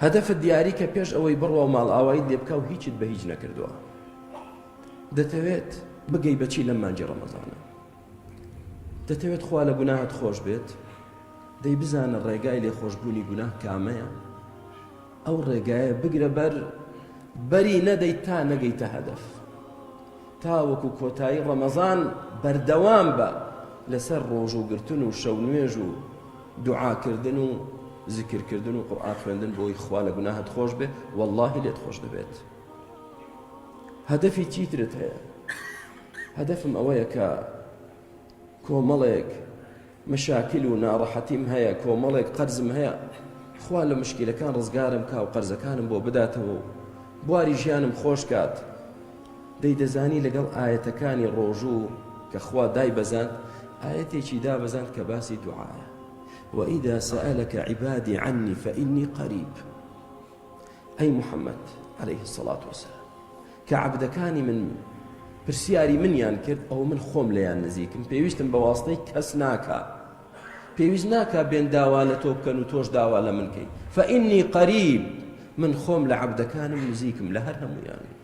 هەدەفت دیاری کە پێش ئەوەی بڕوا و ماڵئاوایت لێ بکە و هیچت بە هیچ نەکردووە دەتەوێت بگەی بەچی لەم مانجی ڕەمەزانە دەتەوێت خوا لە گوناهت خۆش بێت دەی بزانە ڕێگای لێ خۆشببوونی گوناه کامەیە ئەو ڕێگایە بگرە بەر بەری نەدەیت تا نەگەیتە هەدەف تاوەکو کۆتایی ڕەمەزان بەردەوام بە لەسەر ڕۆژ و گرتن و شەو نوێژ و دوعا کردن و زیکر کردن و قورئان خوێندن بۆی خوا لە گوناهت خۆش بێ واللهی لێت خۆش دەبێت هەدەفی چیترت هەیە هەدەفم ئەوەیە کە کۆمەڵێک مشاکل و ناڕەحەتیم هەیە کۆمەڵێک قەرزم هەیە خوا لە مشکلەکان ڕزگارم کا و قەرزەکانم بۆ بداتەوە بواری ژیانم خۆشکات دەی دەزانی لەگەڵ ئایەتەکانی ڕۆژوو کە خوا دایبەزاند ئایەتێکی دابەزاند کە باسی دوعایە وإذا سألك عبادي عني فإني قريب أي محمد عليه الصلاة والسلام كعبدكاني من پرسیاری منیان کرد ئەو من خۆم لەیان نزیکم پێویستم بە واستەی کەس ناکە پێویست ناکە بێن داوا لە تۆ بکەن و تۆش داوا لە منکەی فەئینی قەریب من خۆم لە عبدەکانم نزیکم لە هەر هەمویان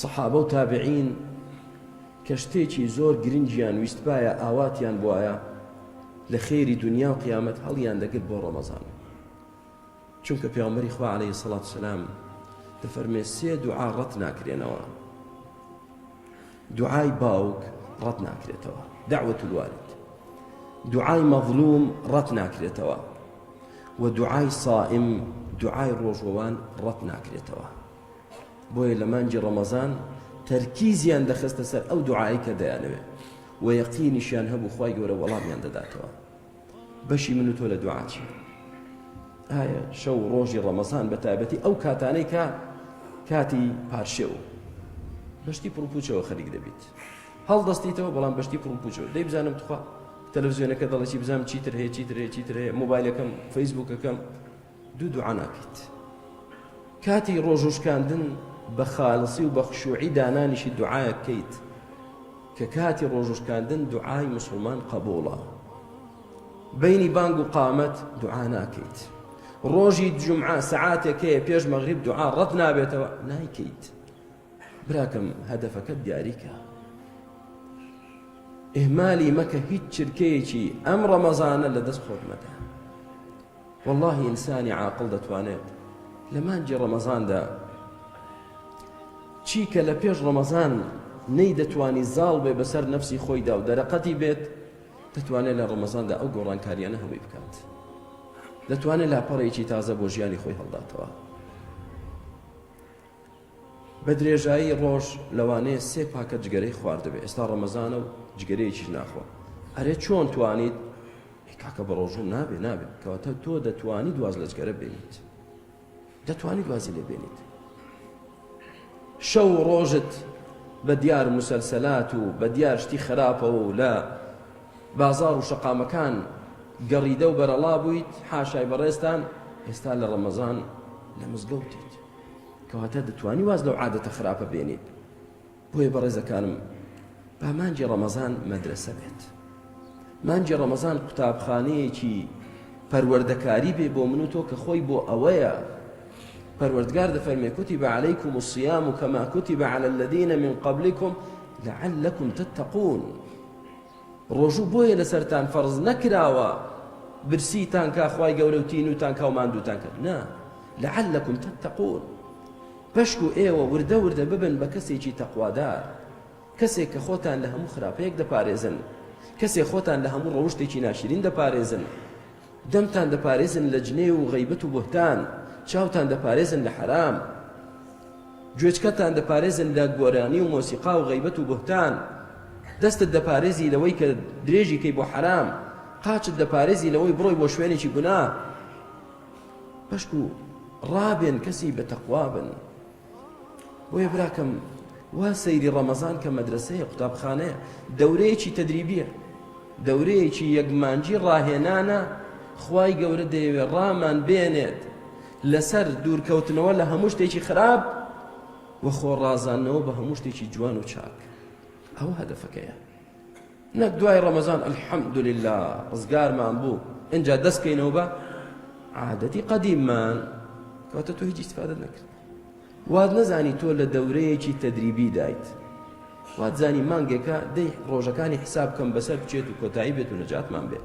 سەحابە و تابعین کە شتێکی زۆر گرنگیان ویستبایە ئاواتیان بوایە لە خێری دنیا و قیامەت هەڵیان دەگرت بۆ ڕەمەزان چونکە پیامبەری خوا عليه سەڵات سلام دەفەرمێ سێ دوعا ڕەت ناکرێنەوە دوعای باوک ڕەت ناکرێتەوە داوەت الوالد دوعای مەظلوم ڕەت ناکرێتەوە و دوعای سائم دوعای ڕۆژوەوان ڕەت ناکرێتەوە بۆیە لە مانگی ڕەمەزان تەرکیزیان دەخستە سەر ئەو دوعای کە دەیانەوێ و یەقینیشیان هەبوو خی گەورە وەڵامیان دەداتەوە بەشی من و تۆ لە دوعاچی ئایا شەو ڕۆژی ڕەمەزان بە تایبەتی ئەو کاتانەی کە کاتی پارشێو بەشتی پڕپوچەوە خەریک دەبیت هەڵدەستیتەوە بەڵام بەشتی پڕپوچەوە دەی بزانم تخوا تەلەڤزیۆنەکە دەڵێکی بزانم چیتر هەیە چیتر هەیە چیتر هەیە مۆبایلەکەم فەیسبوکەکەم دوو دوعا ناکەیت کاتی ڕۆژو شکاندن بە خالصی و بە خشوعی دانانیشی دوعایەک بکەیت کە کاتی ڕۆژو شکاندن دوعای مسلمان قبوڵە بینی بانگ و قامەت دوعا ناکەیت ڕۆژی جمعە سەعاتێک هەیە پێش مەغریب دوعا ڕەت نابێتەوە نایکەیت براکەم هەدەفەکە دیاریکە ئهمالی مەکە هیچ چرکەیەکی ئەم ڕەمەزانە لە دەست خۆت مەدە وەڵاهی ئینسانی عاقڵ دەتوانێت لە مانگی ڕەمەزاندا چی کە لە پێش ڕەمەزان نەیدەتوانی زاڵ بێ بەسەر نەفسی خۆیدا و دەرەقەتی بێت دەتوانێت لە ڕەمەزاندا ئەو گۆڕانکاریانە هەمووی بکات دەتوانێت لاپەڕێکی تازە بۆ ژیانی خۆی هەڵداتەوە بە درێژایی ڕۆژ لەوانەیە سێ پاکەت جگەرەی خواردبێ ئێستا ڕەمەزانە و جگەرەیەکیش ناخوا ئەرێ چۆن توانیت کاکە بە ڕۆژوم نابێ نابێ کەواتە تۆ دەتوانی دواز لە جگەرە بێنیت دەتوانی دوازی لێ بێنیت شەو ڕۆژت بە دیار مسلسلات و بە دیار شتی خراپەوە و لە بازار و شەقامەکان گەڕیدە و بەرەڵا بوویت حاشای بەڕێستان ئێستا لە ڕەمەزان لە مزگەوتیت کەواتە دەتوانی واز لەو عادەتە خراپە بێنیت بۆیە بەڕێزەکانم با مانجی ڕەمەزان مەدرسە بێت مانجی ڕەمەزان قوتابخانەیەکی پەروەردەکاری بێ بۆ من و تۆ کە خۆی بۆ ئەوەیە پەروەردگار دەفەرمێ کوتی بە عەلەیکم و سیام و کەما کوتی بە عەلە الذینە من قبلکم لعلکم تتقون ڕۆژوو بۆیە لەسەرتان فەرز نەکراوە برسیتان کا خوای گەورە و تینوتان کا و ماندووتان کات نا لعلکم تتقون پشکو ئێوە وردە وردە ببن بە کەسێکی تەقوادار کەسێک کە خۆتان لە هەموو خراپەیەک دەپارێزن کەسێک خۆتان لە هەموو ڕەوشتێکی ناشرین دەپارێزن دەمتان دەپارێزن لە جنێو و غەیبەت و بوهتان، چاوتان دەپارێزن لە حەرام، گوێچکەتان دەپارێزن لە گۆرانی و مۆسیقا و غەیبەت و بوهتان، دەستت دەپارێزی لەوەی کە درێژی کەی بۆ حەرام، قاچت دەپارێزی لەوەی بڕۆی بۆ شوێنێکی گوناه. پشکوو، ڕابێن کەسی بە تەقوا بن. بۆیە براکەم وا سەیری ڕەمەزان کە مەدرسەیە قوتابخانەیە دەورەیەکی تەدریبیە دەورەیەکی یەکمانجی ڕاهێنانە خوای گەورە دەیەوێ ڕامان بێنێت لەسەر دوورکەوتنەوە لە هەموو شتێکی خراپ وە خۆڕازانەوە بە هەموو شتێکی جوان و چاک ئەوە هەدەفەکەیە نەک دوای ڕەمەزان الحمدللە ڕزگارمان بوو ئینجا دەست کەینەوە بە عادەتی قەدیممان کەواتە تۆ هیچ استفادە نەکرد وات نەزانی تۆ لە دەورەیەکی تەدریبی دایت وات زانی مانگێکە دەی ڕۆژەکانی حساب کەم بەسەر بچێت و کۆتایی بێت و نەجاتمان بێت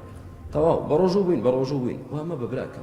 تەواو بە ڕۆژوو بووین بە ڕۆژوو بووین وامە بەبراکەم